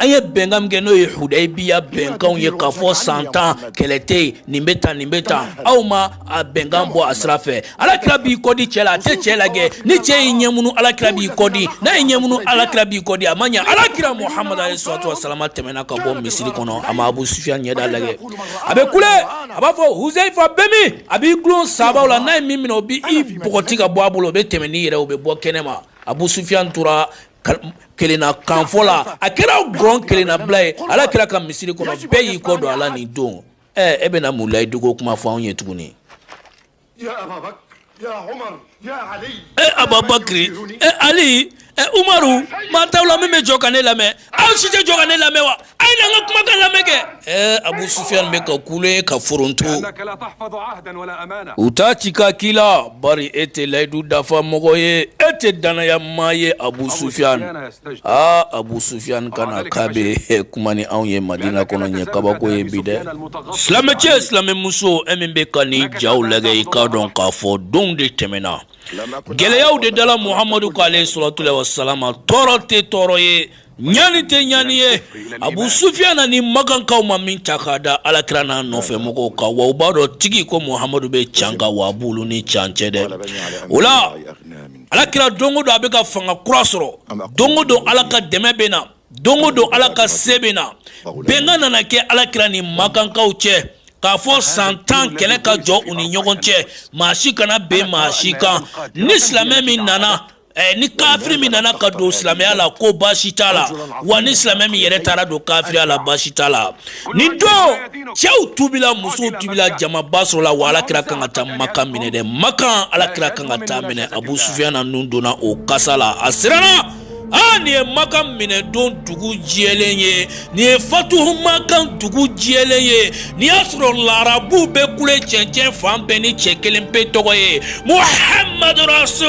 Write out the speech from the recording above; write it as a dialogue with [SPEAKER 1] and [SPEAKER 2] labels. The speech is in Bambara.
[SPEAKER 1] an ye bɛnkan min kɛ n'o ye hudayibiya bɛnkanw ye k'a fɔ san tan kɛlɛ tɛ yen nin bɛ tan nin bɛ tan aw ma a bɛnkan bɔ a sira fɛ alakira b'i kɔdi cɛ la a tɛ cɛ lajɛ ni cɛ y'i ɲɛmunu alakira b'i kɔdi n'a y'i ɲɛmunu alakira b'i kɔdi a ma ɲɛ alakira muhamadu alayhi salatu wa salama tɛmɛna ka bɔ misiri kɔnɔ a ma abu sufiya ɲɛda lajɛ a bɛ kule a b'a fɔ huzayifa bɛ min a b'i dulon sabaw la n'a ye min minɛ o b'i i bɔgɔti ka bɔ a bolo o bɛ tɛmɛ n'i yɛrɛ o bɛ bɔ kɛnɛ ma abu sufiyan tora kelenna kanfɔ la a kɛra gɔn kelennabila ye alakira ka misiri kɔnɔ bɛɛ y'i kɔ don a la nin don ɛ e bɛna mun layidu ko kuma fɔ anw ye tuguni ɛ ababakiri ɛ ali ɛ umaru maa t'aw la min bɛ jɔ ka ne lamɛn aw si tɛ jɔ ka ne lamɛn wa A ye an ka kumakan lamɛn kɛ ɛɛ abu sufiyan bɛ ka kule ye ka foron u t'a ci ka k'i la bari e tɛ layidu dafa mɔgɔ ye e tɛ dannaya maa ye abu sufiyan aa abu sufiyan ka na k'a bɛ kuma ni anw ye madina kɔnɔ ye kabako ye bi dɛ silamɛcɛ silamɛmuso e min bɛ ka nin ja lajɛ i k'a dɔn k'a fɔ donw de tɛmɛna gɛlɛyaw de dala muhamadu kan alayhi salatu wa salama tɔɔrɔ tɛ tɔɔrɔ ye Ɲani tɛ ɲani ye abu sufiyan ani makankaw ma min ta k'a da alakira n'a nɔfɛ mɔgɔw kan wa u b'a dɔn tigi ko muhamadu bɛ can kan wa a b'olu ni can cɛ dɛ o la alakira don o don a bɛ ka fanga kura sɔrɔ don o don ala ka dɛmɛ bɛ na don o don ala ka se bɛ na bɛnkan nana kɛ alakira ni makankaw cɛ k'a fɔ san tan kɛlɛ ka jɔ u ni ɲɔgɔn cɛ maa si kana bɛn maa si kan ni silamɛ min nana Eh, ni kafiri min nana ka don silamɛya la ko baasi t'a la wa ni silamɛ min yɛrɛ taara don kafiriya la baasi t'a la nin don cɛw tuubila musow tuubila jamaba sɔrɔla wa ala kira kan ka taa makan minɛ dɛ makan ala kira kan ka taa minɛ abu sufiyan nun donna o kasa la a siranna aa nin ye makan minɛ don dugu jɛlen ye nin ye fatuhu makan dugu jɛlen ye n'i y'a sɔrɔ larabuw bɛ kule cɛncɛn fan bɛɛ ni cɛ kelen pe tɔgɔ ye muhamadu rasul